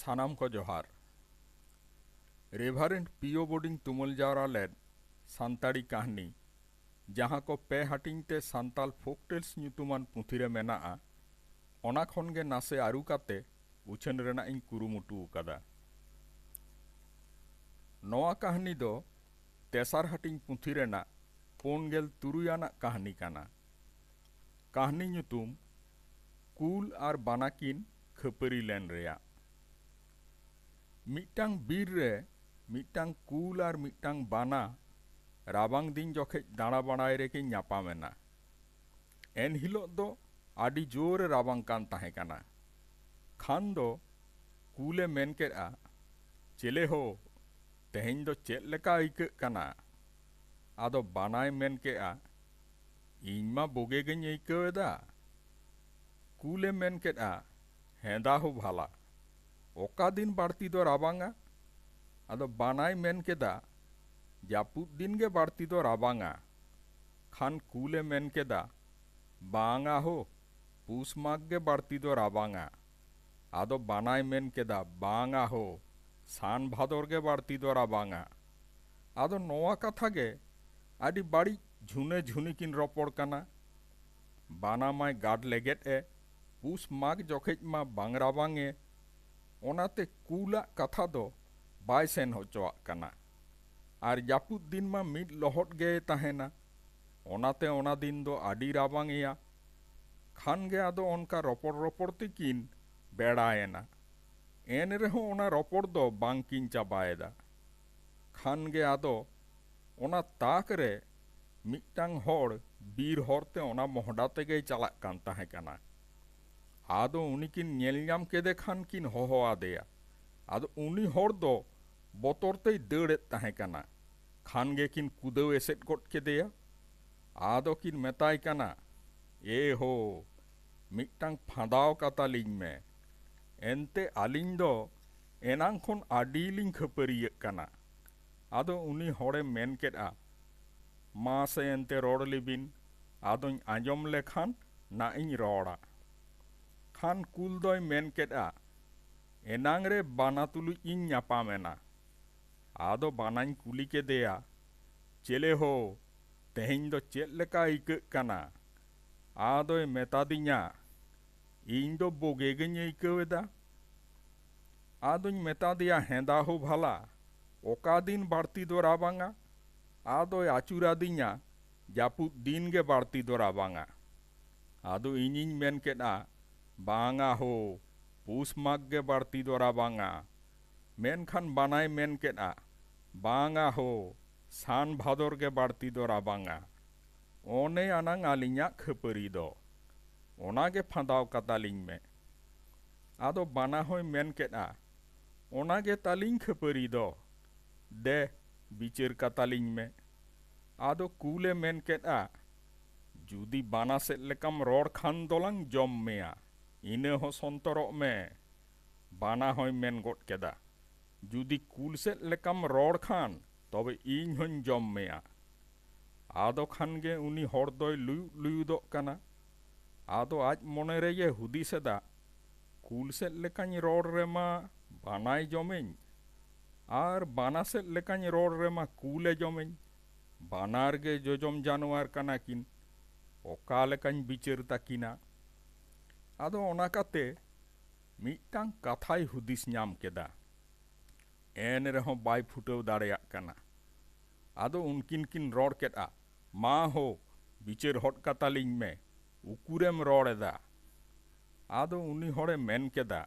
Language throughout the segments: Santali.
ᱥᱟᱱᱟᱢ ᱠᱚ ᱡᱚᱦᱟᱨ ᱨᱮᱵᱷᱟᱨᱮᱱᱴ ᱯᱤᱭᱳ ᱵᱳᱰᱤᱝ ᱛᱩᱢᱟᱹᱞ ᱡᱟᱣᱨᱟ ᱞᱮᱫ ᱥᱟᱱᱛᱟᱲᱤ ᱠᱟᱹᱦᱱᱤ ᱡᱟᱦᱟᱸ ᱠᱚ ᱯᱮ ᱦᱟᱹᱴᱤᱧ ᱛᱮ ᱥᱟᱱᱛᱟᱲ ᱯᱷᱳᱠᱴᱮᱞᱥ ᱧᱩᱛᱩᱢᱟᱱ ᱯᱩᱛᱷᱤ ᱨᱮ ᱢᱮᱱᱟᱜᱼᱟ ᱚᱱᱟ ᱠᱷᱚᱱ ᱜᱮ ᱱᱟᱥᱮ ᱟᱹᱨᱩ ᱠᱟᱛᱮ ᱩᱪᱷᱟᱹᱱ ᱨᱮᱱᱟᱜ ᱤᱧ ᱠᱩᱨᱩᱢᱩᱴᱩ ᱟᱠᱟᱫᱟ ᱱᱚᱣᱟ ᱠᱟᱹᱦᱱᱤ ᱫᱚ ᱛᱮᱥᱟᱨ ᱦᱟᱹᱴᱤᱧ ᱯᱩᱛᱷᱤ ᱨᱮᱱᱟᱜ ᱯᱩᱱ ᱜᱮᱞ ᱛᱩᱨᱩᱭ ᱟᱱᱟᱜ ᱠᱟᱹᱦᱱᱤ ᱠᱟᱱᱟ ᱠᱟᱹᱦᱱᱤ ᱧᱩᱛᱩᱢ ᱠᱩᱞ ᱟᱨ ᱵᱟᱱᱟ ᱠᱤᱱ ᱠᱷᱟᱹᱯᱟᱹᱨᱤ ᱞᱮᱱ ᱨᱮᱭᱟᱜ ᱢᱤᱫᱴᱟᱝ ᱵᱤᱨ ᱨᱮ ᱢᱤᱫᱴᱟᱝ ᱠᱩᱞ ᱟᱨ ᱢᱤᱫᱴᱟᱝ ᱵᱟᱱᱟ ᱨᱟᱵᱟᱝ ᱫᱤᱱ ᱡᱚᱠᱷᱮᱡ ᱫᱟᱬᱟ ᱵᱟᱲᱟᱭ ᱨᱮᱠᱤᱱ ᱧᱟᱯᱟᱢ ᱮᱱᱟ ᱮᱱ ᱦᱤᱞᱚᱜ ᱫᱚ ᱟᱹᱰᱤ ᱡᱳᱨ ᱮ ᱨᱟᱵᱟᱝ ᱠᱟᱱ ᱛᱟᱦᱮᱸ ᱠᱟᱱᱟ ᱠᱷᱟᱱ ᱫᱚ ᱠᱩᱞ ᱮ ᱢᱮᱱ ᱠᱮᱫᱼᱟ ᱪᱮᱞᱮ ᱦᱳ ᱛᱮᱦᱮᱧ ᱫᱚ ᱪᱮᱫ ᱞᱮᱠᱟ ᱟᱹᱭᱠᱟᱹᱜ ᱠᱟᱱᱟ ᱟᱫᱚ ᱵᱟᱱᱟᱭ ᱢᱮᱱ ᱠᱮᱫᱼᱟ, ᱤᱧ ᱢᱟ ᱵᱩᱜᱮ ᱜᱮᱧ ᱟᱹᱭᱠᱟᱹᱣ ᱮᱫᱟ᱾ ᱠᱩᱞ ᱮ ᱢᱮᱱ ᱠᱮᱫᱼᱟ, ᱦᱮᱸᱫᱟ ᱦᱳ ᱵᱷᱟᱞᱟ, ᱚᱠᱟ ᱫᱤᱱ ᱵᱟᱹᱲᱛᱤ ᱫᱚ ᱨᱟᱵᱟᱝᱼᱟ? ᱟᱫᱚ ᱵᱟᱱᱟᱭ ᱢᱮᱱ ᱠᱮᱫᱼᱟ, ᱡᱟᱹᱯᱩᱫ ᱫᱤᱱ ᱜᱮ ᱵᱟᱹᱲᱛᱤ ᱫᱚ ᱨᱟᱵᱟᱝᱼᱟ᱾ ᱠᱷᱟᱱ ᱠᱩᱞ ᱮ ᱢᱮᱱ ᱠᱮᱫᱼᱟ, ᱵᱟᱝᱼᱟ ᱦᱳ, ᱯᱩᱥ ᱢᱟᱜᱽ ᱜᱮ ᱵᱟᱹᱲᱛᱤ ᱫᱚ ᱨᱟᱵᱟᱝᱼᱟ᱾ ᱟᱫᱚ ᱵᱟᱱᱟᱭ ᱢᱮᱱ ᱠᱮᱫᱟ, ᱵᱟᱝᱼᱟ ᱦᱳ, ᱥᱟᱱ ᱵᱷᱟᱫᱚᱨ ᱜᱮ ᱵᱟᱹᱲᱛᱤ ᱫᱚ ᱨᱟᱵᱟᱝᱼᱟ᱾ ᱟᱫᱚ ᱱᱚᱶᱟ ᱠᱟᱛᱷᱟ ᱜᱮ ᱟᱹᱰᱤ ᱵᱟᱹᱲᱤᱡ ᱡᱷᱩᱱᱟᱹ ᱡᱷᱩᱱᱤ ᱠᱤᱱ ᱨᱚᱯᱚᱲ ᱠᱟᱱᱟ᱾ ᱵᱟᱱᱟ ᱢᱟᱭ ᱜᱟᱰ ᱞᱮᱜᱮᱫ ᱮ, ᱯᱩᱥ ᱢᱟᱜᱽ ᱡᱚᱠᱷᱮᱡ ᱢᱟ ᱵᱟᱝ ᱨᱟᱵᱟᱝ ᱮ᱾ ᱚᱱᱟᱛᱮ ᱠᱩᱞ ᱟᱜ ᱠᱟᱛᱷᱟ ᱫᱚ ᱵᱟᱭ ᱥᱮᱱ ᱦᱚᱪᱚᱣᱟᱜ ᱠᱟᱱᱟ᱾ ᱟᱨ ᱡᱟᱹᱯᱩᱫ ᱫᱤᱱ ᱢᱟ ᱢᱤᱫ ᱞᱚᱦᱚᱫ ᱜᱮᱭ ᱛᱟᱦᱮᱸᱱᱟ᱾ ᱚᱱᱟᱛᱮ ᱚᱱᱟ ᱫᱤᱱ ᱫᱚ ᱟᱹᱰᱤ ᱨᱟᱵᱟᱝ ᱮᱭᱟ᱾ ᱠᱷᱟᱱ ᱜᱮ ᱟᱫᱚ ᱚᱱᱠᱟ ᱨᱚᱯᱚᱲ ᱨᱚᱯᱚᱲ ᱛᱮᱠᱤᱱ ᱵᱮᱲᱟ ᱮᱱᱟ᱾ ᱮᱱ ᱨᱮᱦᱚᱸ ᱚᱱᱟ ᱨᱚᱯᱚᱲ ᱫᱚ ᱵᱟᱝ ᱠᱤᱱ ᱪᱟᱵᱟ ᱮᱫᱟ᱾ ᱠᱷᱟᱱ ᱜᱮ ᱟᱫᱚ ᱚᱱᱟ ᱛᱟᱠ ᱨᱮ ᱢᱤᱫᱴᱟᱹᱝ ᱦᱚᱲ ᱵᱤᱨ ᱦᱚᱨ ᱛᱮ ᱚᱱᱟ ᱢᱚᱦᱰᱟ ᱛᱮᱜᱮᱭ ᱪᱟᱞᱟᱜ ᱠᱟᱱ ᱛᱟᱦᱮᱸ ᱠᱟᱱᱟ᱾ ᱟᱫᱚ ᱩᱱᱤ ᱠᱤᱱ ᱧᱮᱞ ᱧᱟᱢ ᱠᱮᱫᱮ ᱠᱷᱟᱱ ᱠᱤᱱ ᱦᱚᱦᱚ ᱟᱫᱮᱭᱟ᱾ ᱟᱫᱚ ᱩᱱᱤ ᱦᱚᱲ ᱫᱚ ᱵᱚᱛᱚᱨ ᱛᱮᱭ ᱫᱟᱹᱲ ᱮᱫ ᱛᱟᱦᱮᱸ ᱠᱟᱱᱟ᱾ ᱠᱷᱟᱱ ᱜᱮ ᱠᱤᱱ ᱠᱩᱫᱟᱹᱣ ᱮᱥᱮᱫ ᱜᱚᱫ ᱠᱮᱫᱮᱭᱟ᱾ ᱟᱫᱚ ᱠᱤᱱ ᱢᱮᱛᱟᱭ ᱠᱟᱱᱟ, ᱮ ᱦᱳ! ᱢᱤᱫᱴᱟᱝ ᱯᱷᱟᱸᱫᱟᱣ ᱠᱟᱛᱟ ᱞᱤᱧ ᱢᱮ᱾ ᱮᱱᱛᱮ ᱟᱹᱞᱤᱧ ᱫᱚ ᱮᱱᱟᱝ ᱠᱷᱚᱱ ᱟᱹᱰᱤ ᱞᱤᱧ ᱠᱷᱟᱹᱯᱟᱹᱨᱤᱭᱟᱹᱜ ᱠᱟᱱᱟ᱾ ᱟᱫᱚ ᱩᱱᱤ ᱦᱚᱲᱮ ᱢᱮᱱ ᱠᱮᱫᱼᱟ, ᱢᱟ ᱥᱮ ᱮᱱᱛᱮ ᱨᱚᱲ ᱞᱮᱵᱤᱱ, ᱟᱫᱚᱧ ᱟᱸᱡᱚᱢ ᱞᱮᱠᱷᱟᱱ ᱱᱟᱜ ᱤᱧ ᱨᱚᱲᱟ᱾ ᱠᱷᱟᱱ ᱠᱩᱞ ᱫᱚᱭ ᱢᱮᱱ ᱠᱮᱫᱼᱟ, ᱮᱱᱟᱝ ᱨᱮ ᱵᱟᱱᱟ ᱛᱩᱞᱩᱡ ᱤᱧ ᱧᱟᱯᱟᱢ ᱮᱱᱟ᱾ ᱟᱫᱚ ᱵᱟᱱᱟᱧ ᱠᱩᱞᱤ ᱠᱮᱫᱮᱭᱟ, ᱪᱮᱞᱮ ᱦᱳ! ᱛᱮᱦᱮᱧ ᱫᱚ ᱪᱮᱫ ᱞᱮᱠᱟ ᱟᱹᱭᱠᱟᱹᱜ ᱠᱟᱱᱟ? ᱟᱫᱚᱭ ᱢᱮᱛᱟᱫᱤᱧᱟ, ᱤᱧ ᱫᱚ ᱵᱳᱜᱮ ᱜᱮᱧ ᱟᱹᱭᱠᱟᱹᱣ ᱮᱫᱟ᱾ ᱟᱫᱚᱧ ᱢᱮᱛᱟᱫᱮᱭᱟ ᱦᱮᱸᱫᱟ ᱦᱳ ᱵᱷᱟᱞᱟ, ᱚᱠᱟ ᱫᱤᱱ ᱵᱟᱹᱲᱛᱤ ᱫᱚ ᱨᱟᱵᱟᱝᱟ? ᱟᱫᱚᱭ ᱟᱹᱪᱩᱨ ᱟᱫᱤᱧᱟ, ᱡᱟᱹᱯᱩᱫ ᱫᱤᱱ ᱜᱮ ᱵᱟᱹᱲᱛᱤ ᱫᱚ ᱨᱟᱵᱟᱝᱟ᱾ ᱟᱫᱚ ᱤᱧᱤᱧ ᱢᱮᱱ ᱠᱮᱫᱼᱟ, ᱵᱟᱝᱟ ᱦᱳ, ᱯᱩᱥ ᱢᱟᱜᱽ ᱜᱮ ᱵᱟᱹᱲᱛᱤ ᱫᱚ ᱨᱟᱵᱟᱝᱟ᱾ ᱢᱮᱱᱠᱷᱟᱱ ᱵᱟᱱᱟᱭ ᱢᱮᱱ ᱠᱮᱫᱼᱟ, ᱵᱟᱝᱟ ᱦᱳ, ᱥᱟᱱ ᱵᱷᱟᱫᱚᱨ ᱜᱮ ᱵᱟᱹᱲᱛᱤ ᱫᱚ ᱨᱟᱵᱟᱝᱼᱟ᱾ ᱚᱱᱮ ᱟᱱᱟᱝ ᱟᱹᱞᱤᱧᱟᱜ ᱠᱷᱟᱹᱯᱟᱹᱨᱤ ᱫᱚ᱾ ᱚᱱᱟ ᱜᱮ ᱯᱷᱟᱸᱫᱟᱣ ᱠᱟᱛᱟ ᱞᱤᱧ ᱢᱮ᱾ ᱟᱫᱚ ᱵᱟᱱᱟ ᱦᱚᱸᱭ ᱢᱮᱱ ᱠᱮᱫᱼᱟ, ᱚᱱᱟ ᱜᱮ ᱛᱟᱹᱞᱤᱧ ᱠᱷᱟᱹᱯᱟᱹᱨᱤ ᱫᱚ᱾ ᱫᱮ ᱵᱤᱪᱟᱹᱨ ᱠᱟᱛᱟ ᱞᱤᱧ ᱢᱮ᱾ ᱟᱫᱚ ᱠᱩᱞ ᱮ ᱢᱮᱱ ᱠᱮᱫᱼᱟ, ᱡᱩᱫᱤ ᱵᱟᱱᱟ ᱥᱮᱫ ᱞᱮᱠᱟᱢ ᱨᱚᱲ ᱠᱷᱟᱱ ᱫᱚᱞᱟᱝ ᱡᱚᱢ ᱢᱮᱭᱟ᱾ ᱤᱱᱟᱹ ᱦᱚᱸ ᱥᱚᱱᱛᱚᱨᱚᱜ ᱢᱮ᱾ ᱵᱟᱱᱟ ᱦᱚᱸᱭ ᱢᱮᱱ ᱜᱚᱫ ᱠᱮᱫᱟ, ᱡᱩᱫᱤ ᱠᱩᱞ ᱥᱮᱫ ᱞᱮᱠᱟᱢ ᱨᱚᱲ ᱠᱷᱟᱱ ᱛᱚᱵᱮ ᱤᱧ ᱦᱚᱸᱧ ᱡᱚᱢ ᱢᱮᱭᱟ᱾ ᱟᱫᱚ ᱠᱷᱟᱱ ᱜᱮ ᱩᱱᱤ ᱦᱚᱲ ᱫᱚᱭ ᱞᱩᱭᱩᱫ ᱞᱩᱭᱩᱫᱚᱜ ᱠᱟᱱᱟ᱾ ᱟᱫᱚ ᱟᱡ ᱢᱚᱱᱮ ᱨᱮᱭᱮ ᱦᱩᱫᱤᱥ ᱮᱫᱟ, ᱠᱩᱞ ᱥᱮᱫ ᱞᱮᱠᱟᱧ ᱨᱚᱲ ᱨᱮ ᱢᱟ ᱵᱟᱱᱟᱭ ᱡᱚᱢᱤᱧ ᱟᱨ ᱵᱟᱱᱟ ᱥᱮᱫ ᱞᱮᱠᱟᱧ ᱨᱚᱲ ᱨᱮ ᱢᱟ ᱠᱩᱞ ᱮ ᱡᱚᱢᱤᱧ᱾ ᱵᱟᱱᱟᱨ ᱜᱮ ᱡᱚᱡᱚᱢ ᱡᱟᱱᱣᱟᱨ ᱠᱟᱱᱟ ᱠᱤᱱ᱾ ᱚᱠᱟ ᱞᱮᱠᱟᱧ ᱵᱤᱪᱟᱹᱨ ᱛᱟᱹᱠᱤᱱᱟ? ᱟᱫᱚ ᱚᱱᱟ ᱠᱟᱛᱮ ᱢᱤᱫᱴᱟᱝ ᱠᱟᱛᱷᱟᱭ ᱦᱩᱫᱤᱥ ᱧᱟᱢ ᱠᱮᱫᱟ᱾ ᱮᱱ ᱨᱮᱦᱚᱸ ᱵᱟᱭ ᱯᱷᱩᱴᱟᱹᱣ ᱫᱟᱲᱮᱭᱟᱜ ᱠᱟᱱᱟ᱾ ᱟᱫᱚ ᱩᱱᱠᱤᱱ ᱠᱤᱱ ᱨᱚᱲ ᱠᱮᱫᱼᱟ, ᱢᱟ ᱦᱳ, ᱵᱤᱪᱟᱹᱨ ᱦᱚᱫ ᱠᱟᱛᱟ ᱞᱤᱧ ᱢᱮ, ᱩᱠᱩᱨᱮᱢ ᱨᱚᱲ ᱮᱫᱟ? ᱟᱫᱚ ᱩᱱᱤ ᱦᱚᱲᱮ ᱢᱮᱱ ᱠᱮᱫᱟ,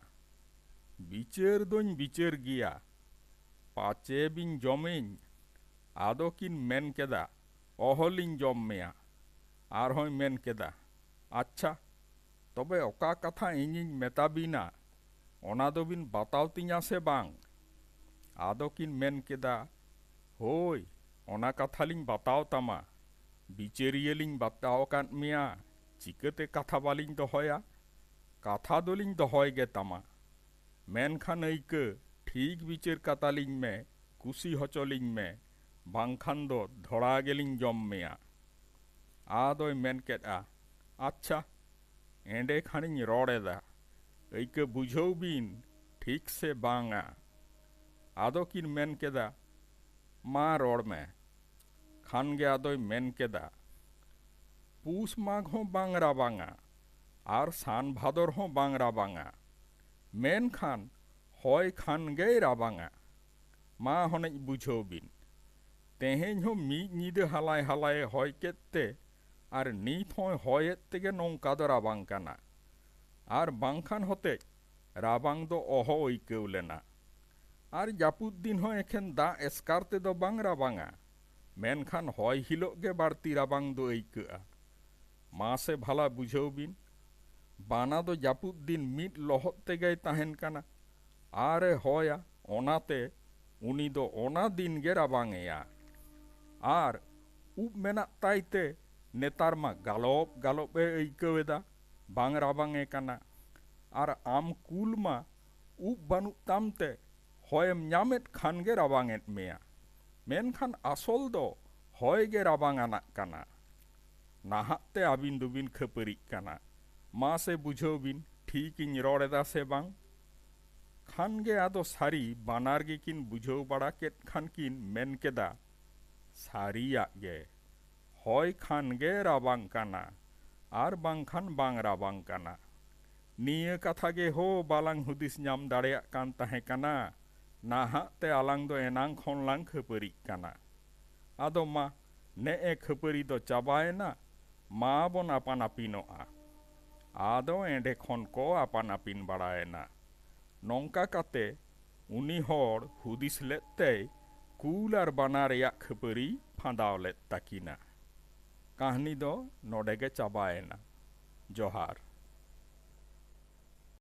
ᱵᱤᱪᱟᱹᱨ ᱫᱚᱧ ᱵᱤᱪᱟᱹᱨ ᱜᱮᱭᱟ, ᱯᱟᱪᱮ ᱵᱤᱱ ᱡᱚᱢᱤᱧ᱾ ᱟᱫᱚ ᱠᱤᱱ ᱢᱮᱱ ᱠᱮᱫᱟ, ᱚᱦᱚ ᱞᱤᱧ ᱡᱚᱢ ᱢᱮᱭᱟ᱾ ᱟᱨᱦᱚᱸᱭ ᱢᱮᱱ ᱠᱮᱫᱟ, ᱟᱪᱪᱷᱟ᱾ ᱛᱚᱵᱮ ᱚᱠᱟ ᱠᱟᱛᱷᱟ ᱤᱧᱤᱧ ᱢᱮᱛᱟ ᱵᱤᱱᱟ ᱚᱱᱟ ᱫᱚ ᱵᱤᱱ ᱵᱟᱛᱟᱣ ᱛᱤᱧᱟ ᱥᱮ ᱵᱟᱝ? ᱟᱫᱚ ᱠᱤᱱ ᱢᱮᱱ ᱠᱮᱫᱟ, ᱦᱳᱭ ᱚᱱᱟ ᱠᱟᱛᱷᱟ ᱞᱤᱧ ᱵᱟᱛᱟᱣ ᱛᱟᱢᱟ᱾ ᱵᱤᱪᱟᱹᱨᱤᱭᱟᱹ ᱞᱤᱧ ᱵᱟᱛᱟᱣ ᱟᱠᱟᱫ ᱢᱮᱭᱟ ᱪᱤᱠᱟᱹᱛᱮ ᱠᱟᱛᱷᱟ ᱵᱟᱞᱤᱧ ᱫᱚᱦᱚᱭᱟ? ᱠᱟᱛᱷᱟ ᱫᱚ ᱞᱤᱧ ᱫᱚᱦᱚᱭ ᱜᱮ ᱛᱟᱢᱟ᱾ ᱢᱮᱱᱠᱷᱟᱱ ᱟᱹᱭᱠᱟᱹ ᱴᱷᱤᱠ ᱵᱤᱪᱟᱹᱨ ᱠᱟᱛᱟ ᱞᱤᱧ ᱢᱮ, ᱠᱩᱥᱤ ᱦᱚᱪᱚ ᱞᱤᱧ ᱢᱮ ᱵᱟᱝᱠᱷᱟᱱ ᱫᱚ ᱫᱷᱚᱲᱟ ᱜᱮᱞᱤᱧ ᱡᱚᱢ ᱢᱮᱭᱟ᱾ ᱟᱫᱚᱭ ᱢᱮᱱ ᱠᱮᱫᱼᱟ᱾ ᱟᱪᱪᱷᱟ ᱮᱸᱰᱮ ᱠᱷᱟᱱᱤᱧ ᱨᱚᱲ ᱮᱫᱟ ᱟᱹᱭᱠᱟᱹ ᱵᱩᱡᱷᱟᱹᱣ ᱵᱤᱱ ᱴᱷᱤᱠ ᱥᱮ ᱵᱟᱝ ᱟ᱾ ᱟᱫᱚ ᱠᱤᱱ ᱢᱮᱱ ᱠᱮᱫᱟ ᱢᱟ ᱨᱚᱲ ᱢᱮ᱾ ᱠᱷᱟᱱ ᱜᱮ ᱟᱫᱚᱭ ᱢᱮᱱ ᱠᱮᱫᱟ ᱯᱩᱥ ᱢᱟᱜᱽ ᱦᱚᱸ ᱵᱟᱝ ᱨᱟᱵᱟᱝᱟ ᱟᱨ ᱥᱟᱱ ᱵᱷᱟᱫᱚᱨ ᱦᱚᱸ ᱵᱟᱝ ᱨᱟᱵᱟᱝᱟ ᱢᱮᱱᱠᱷᱟᱱ ᱦᱚᱭ ᱠᱷᱟᱱ ᱜᱮᱭ ᱨᱟᱵᱟᱝᱟ᱾ ᱢᱟ ᱦᱚᱱᱮᱡ ᱵᱩᱡᱷᱟᱹᱣ ᱵᱤᱱ ᱛᱮᱦᱮᱧ ᱦᱚᱸ ᱢᱤᱫ ᱧᱤᱫᱟᱹ ᱦᱟᱞᱟᱭ ᱦᱟᱞᱟᱭᱮ ᱦᱚᱭ ᱠᱮᱫ ᱛᱮ ᱟᱨ ᱱᱤᱛ ᱦᱚᱸᱭ ᱦᱚᱭ ᱮᱫ ᱛᱮᱜᱮ ᱱᱚᱝᱠᱟ ᱫᱚ ᱨᱟᱵᱟᱝ ᱠᱟᱱᱟ᱾ ᱟᱨ ᱵᱟᱝᱠᱷᱟᱱ ᱦᱚᱛᱮᱡ ᱨᱟᱵᱟᱝ ᱫᱚ ᱚᱦᱚ ᱟᱹᱭᱠᱟᱹᱣ ᱞᱮᱱᱟ᱾ ᱟᱨ ᱡᱟᱹᱯᱩᱫ ᱫᱤᱱ ᱦᱚᱸ ᱮᱠᱷᱮᱱ ᱫᱟᱜ ᱮᱥᱠᱟᱨ ᱛᱮᱫᱚ ᱵᱟᱝ ᱨᱟᱵᱟᱝᱼᱟ, ᱢᱮᱱᱠᱷᱟᱱ ᱦᱚᱭ ᱦᱤᱞᱚᱜ ᱜᱮ ᱵᱟᱹᱲᱛᱤ ᱨᱟᱵᱟᱝ ᱫᱚ ᱟᱹᱭᱠᱟᱹᱜᱼᱟ᱾ ᱢᱟᱥᱮ ᱵᱷᱟᱞᱟ ᱵᱩᱡᱷᱟᱹᱣ ᱵᱤᱱ, ᱵᱟᱱᱟ ᱫᱚ ᱡᱟᱹᱯᱩᱫ ᱫᱤᱱ ᱢᱤᱫ ᱞᱚᱦᱚᱫ ᱛᱮᱜᱮᱭ ᱛᱟᱦᱮᱸᱱ ᱠᱟᱱᱟ᱾ ᱟᱨ ᱮ ᱦᱚᱭᱟ ᱚᱱᱟᱛᱮ ᱩᱱᱤ ᱫᱚ ᱚᱱᱟ ᱫᱤᱱ ᱜᱮ ᱨᱟᱵᱟᱝ ᱮᱭᱟ᱾ ᱟᱨ ᱩᱵ ᱢᱮᱱᱟᱜ ᱛᱟᱭ ᱛᱮ ᱱᱮᱛᱟᱨ ᱢᱟ ᱜᱟᱞᱚᱵ ᱜᱟᱞᱚᱵ ᱮ ᱟᱹᱭᱠᱟᱹᱣ ᱮᱫᱟ ᱵᱟᱝ ᱨᱟᱵᱟᱝ ᱮ ᱠᱟᱱᱟ᱾ ᱟᱨ ᱟᱢ ᱠᱩᱞ ᱢᱟ ᱩᱵ ᱵᱟᱹᱱᱩᱜ ᱛᱟᱢ ᱛᱮ ᱦᱚᱭ ᱮᱢ ᱧᱟᱢ ᱮᱫ ᱠᱷᱟᱱ ᱜᱮ ᱨᱟᱵᱟᱝ ᱮᱫ ᱢᱮᱭᱟ᱾ ᱢᱮᱱᱠᱷᱟᱱ ᱟᱥᱚᱞ ᱫᱚ ᱦᱚᱭ ᱜᱮ ᱨᱟᱵᱟᱝ ᱟᱱᱟᱜ ᱠᱟᱱᱟ᱾ ᱱᱟᱦᱟᱜ ᱛᱮ ᱟᱹᱵᱤᱱ ᱫᱚᱵᱤᱱ ᱠᱷᱟᱹᱯᱟᱹᱨᱤᱜ ᱠᱟᱱᱟ ᱢᱟᱥᱮ ᱵᱩᱡᱷᱟᱹᱣ ᱵᱤᱱ ᱴᱷᱤᱠ ᱤᱧ ᱨᱚᱲ ᱮᱫᱟ ᱥᱮ ᱵᱟᱝ᱾ ᱠᱷᱟᱱ ᱜᱮ ᱟᱫᱚ ᱥᱟᱹᱨᱤ ᱵᱟᱱᱟᱨ ᱜᱮ ᱠᱤᱱ ᱵᱩᱡᱷᱟᱹᱣ ᱵᱟᱲᱟ ᱠᱮᱫ ᱠᱷᱟᱱ ᱠᱤᱱ ᱢᱮᱱ ᱠᱮᱫᱟ, ᱥᱟᱹᱨᱤᱭᱟᱜ ᱜᱮ᱾ ᱦᱚᱭ ᱠᱷᱟᱱ ᱜᱮ ᱨᱟᱵᱟᱝ ᱠᱟᱱᱟ ᱟᱨ ᱵᱟᱝ ᱠᱷᱟᱱ ᱵᱟᱝ ᱨᱟᱵᱟᱝ ᱠᱟᱱᱟ᱾ ᱱᱤᱭᱟᱹ ᱠᱟᱛᱷᱟ ᱜᱮ ᱦᱳ ᱵᱟᱞᱟᱝ ᱦᱩᱫᱤᱥ ᱧᱟᱢ ᱫᱟᱲᱮᱭᱟᱜ ᱠᱟᱱ ᱛᱟᱦᱮᱸ ᱠᱟᱱᱟ ᱱᱟᱦᱟᱜ ᱛᱮ ᱟᱞᱟᱝ ᱫᱚ ᱮᱱᱟᱝ ᱠᱷᱚᱱ ᱞᱟᱝ ᱠᱷᱟᱹᱯᱟᱹᱨᱤᱜ ᱠᱟᱱᱟ᱾ ᱟᱫᱚ ᱢᱟ᱾ ᱱᱮᱜᱼᱮ ᱠᱷᱟᱹᱯᱟᱹᱨᱤ ᱫᱚ ᱪᱟᱵᱟᱭᱮᱱᱟ, ᱢᱟ ᱵᱚᱱ ᱟᱯᱟᱱ ᱟᱹᱯᱤᱱᱚᱜᱼᱟ᱾ ᱟᱫᱚ ᱮᱸᱰᱮ ᱠᱷᱚᱱ ᱠᱚ ᱟᱯᱟᱱ ᱟᱹᱯᱤᱱ ᱵᱟᱲᱟᱭᱮᱱᱟ᱾ ᱱᱚᱝᱠᱟ ᱠᱟᱛᱮ ᱩᱱᱤ ᱦᱚᱲ ᱦᱩᱫᱤᱥ ᱞᱮᱫ ᱛᱮᱭ ᱠᱩᱞ ᱟᱨ ᱵᱟᱱᱟ ᱨᱮᱭᱟᱜ ᱠᱷᱟᱹᱯᱟᱹᱨᱤᱭ ᱯᱷᱟᱸᱫᱟᱣ ᱞᱮᱫ ᱛᱟᱹᱠᱤᱱᱟ᱾ ᱠᱟᱹᱦᱱᱤ ᱫᱚ ᱱᱚᱰᱮ ᱜᱮ ᱪᱟᱵᱟᱭᱮᱱᱟ᱾ ᱡᱚᱦᱟᱨ᱾